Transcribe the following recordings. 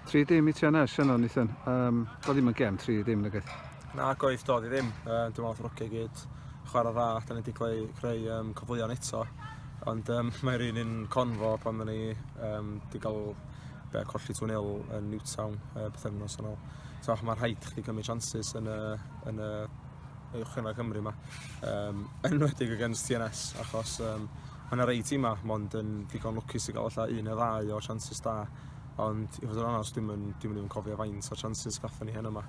Tri dim i ti anna, Shannon, Ethan. Um, do ddim yn gem tri dim, nag eith? Na, goedd, do di ddim. Uh, dwi'n meddwl ffrwcio gyd chwarae dda, da ni wedi creu, creu um, cyfleon eto. Ond um, mae'r un yn confo pan da ni um, wedi cael be, colli 2-0 yn Newtown uh, beth yn nos yn ôl. So, mae rhaid chdi gymryd chances yn y, yn y uwch yna Cymru yma. Um, enwedig against TNS, achos um, Mae yna rei timau mond yn ddigon lwcus i gael allan un neu ddau o chances da, ond i fod yn onest, dwi'n yn, dwi'n yn even cofio faint o chances gatho ni heno yma.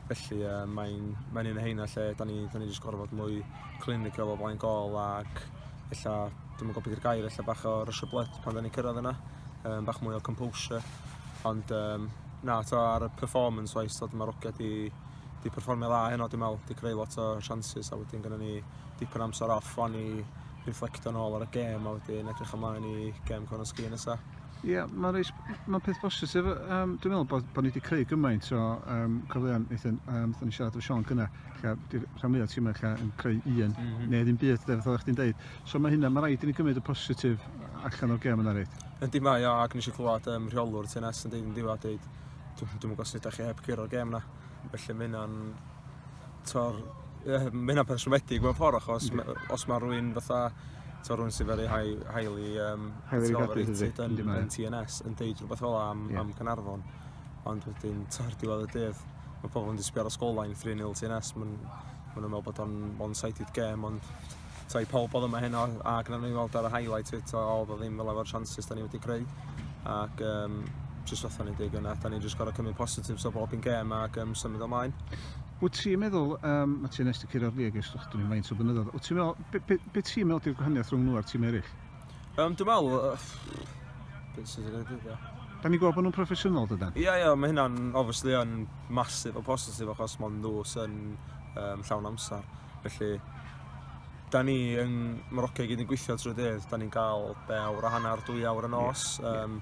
Felly, uh, mae'n mae un o heina lle da ni, da ni jyst gorfod mwy clinical o blaen gol ac ella, dwi'n gwybod beth yw'r gair, ella bach o rush of blood pan da ni'n cyrraedd yna, um, bach mwy o composure. Ond um, na, to ar y performance wise, dod mae'r ogia di, di performio dda heno, dwi'n meddwl, di creu lot o chances a wedyn gyda ni dipyn amser off o'n i riflectio nôl ar y gêm a wedyn edrych ymlaen i gêm Conor Sgîn nesa. Ie, yeah, mae'n reis, mae'n peth bositif. Um, dwi'n meddwl bod, bod ni wedi creu gymaint o um, cyfleon, Nathan, um, ni siarad efo Sean gyna, lle rhan mwyaf tîmau lle yn creu un, mm -hmm. neu ddim byd, dweud, oedd chdi'n deud. So mae hynna, mae rhaid i ni gymryd y positif allan o'r gem yna, reit? Yndi mae, o, ac nes i clywed um, rheolwr TNS yn dweud yn ddiwedd, dwi'n meddwl os ydych chi heb gyro'r gem yna, felly mae hynna'n t'o'r yy ma' hynna'n pershwmedig mewn ffor achos ma' yy os ma' rywun fatha t'o' rywun sy very high highly yym Highly regarded yndi? yn Yndi mae. yn Tee En Ess yn deud rwbeth fel 'a am Ie. am Caernarfon ond wedyn t'o' ar diwedd y dydd ma' pobol mynd i sbio ar y sgorlines three nil Tee En Ess ma'n ma' nw'n me'wl bod o'n one sided game ond t'o' i pawb odd yma heno a gnawn ni weld ar y highlight it o odd o ddim fel efo'r chances 'da ni wedi creu ac um, jyst fatha ni'n dweud yna, da ni jyst gorau cymryd positives o bob un gêm ac um, symud ymlaen. Wyt ti'n meddwl, um, mae ti'n nes ti cyrra'r lig ers ych dwi'n faint o blynyddoedd, wyt ti'n meddwl, be, be, be ti'n meddwl di'r gwahaniaeth rhwng nhw a'r tîm eraill? Um, dwi'n meddwl, uh, beth sy'n ei dweud Da ni'n gweld bod nhw'n proffesiynol dydan? Ie, yeah, ie, yeah, mae hynna'n obviously yn masif o positif achos mae'n nhw sy'n um, llawn amser. Felly, da ni yn Morocco i gyd yn gweithio trwy dydd. Da ni'n cael be, awr a hanner, dwy awr y nos. Yeah. Um,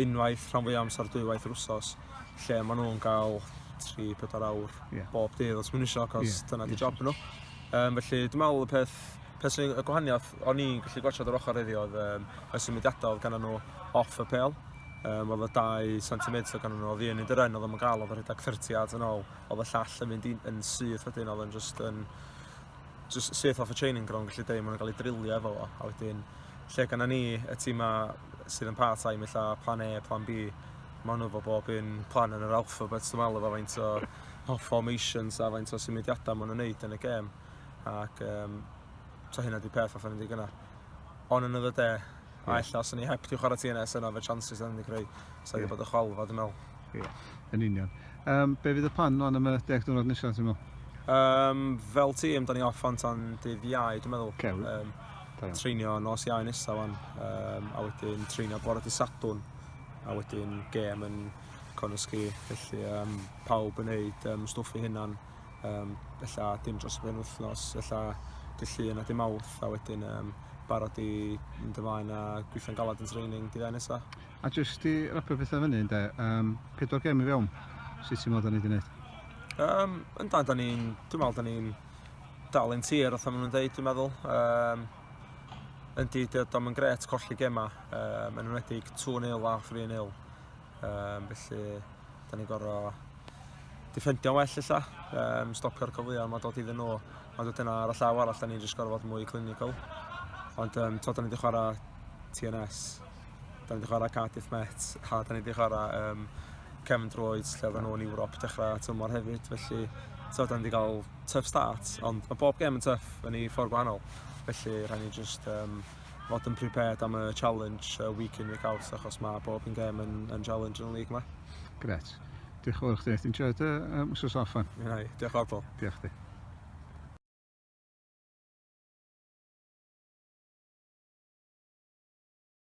unwaith rhan fwy amser dwywaith yr wsos. Lle maen nhw'n cael 3-4 awr yeah. bob dydd os maen nhw eisiau, cos yeah. dyna di yeah. job nhw. Um, felly, dwi'n meddwl y peth peth sy'n y gwahaniaeth o'n i'n gallu gwachod yr ochr iddi oedd um, y symudiadau oedd gan nhw off y pel. Um, oedd y 2 cm oedd gan nhw oedd un yn dyren oedd yn gael oedd yn rhedeg 30 at yn ôl. oedd y llall yn mynd yn syth wedyn, oedd yn just yn just syth off y training ground, gallu dweud, maen nhw'n cael ei drilio efo fo, a wedyn lle gan ni y tîm ma sydd yn part time, illa plan A, plan B, maen nhw fo bob un plan yn yr alphabet, dwi'n meddwl, efo faint o, o formations a faint o symudiadau maen nhw'n neud yn y gêm, ac um, so hynna di peth off yn y gynnar. On another day, a ella os o'n i heb di chwarae TNS yna, fe chances yn mynd i greu, so yeah. bod y chwalfa, dwi'n meddwl. Ie, yn union. Um, be fydd y plan lan am y deg diwrnod nesaf, ti'n meddwl? Um, fel tîm, da ni off fan tan dydd iau, dwi'n meddwl. Okay, um, treinio nos iau nesaf fan, um, a wedyn treinio bore dy sadwn, a wedyn gêm yn Conisgi, felly um, pawb yn neud um, stwff i hynna'n um, ella dim dros y penwythnos, ella dy llun a dim awth, a wedyn um, barod i mynd ymlaen a gweithio'n galad yn training dydd nesaf. A jyst i rapio pethau fyny ynde, um, pedwar gem i fewn, sut ti'n meddwl da ni wedi gwneud? Um, yn da, da ni'n, dwi'n meddwl da ni'n dal yn tir, oedd maen nhw'n dweud, dwi'n meddwl. Um, yn di, dydw yn gret colli gemau, um, yn enwedig 2-0 a 3-0. Um, felly, da ni'n gorau diffendio well illa, um, stopio'r cyfleoedd mae dod iddyn nhw. Ond wedyn ar y llaw arall, da ni'n just gorau fod mwy clinical. Ond um, to, da ni wedi chwarae TNS Da ni wedi chwarae Cardiff Met a da ni wedi chwarae um, Kevin Droids lle oedden nhw'n Ewrop dechrau tymor hefyd. Felly, so, da ni wedi cael tuff start, ond mae bob gem yn tuff yn ei ffordd gwahanol. Felly, rhaid ni just um, fod yn prepared am y challenge uh, week in, week out, achos mae bob yn gem yn, yn challenge yn y league yma. Gret. Diolch yn fawr chdi. Ti'n enjoy dy um, wsos off fan? Ie, yeah, diolch o'r bol. Diolch chdi.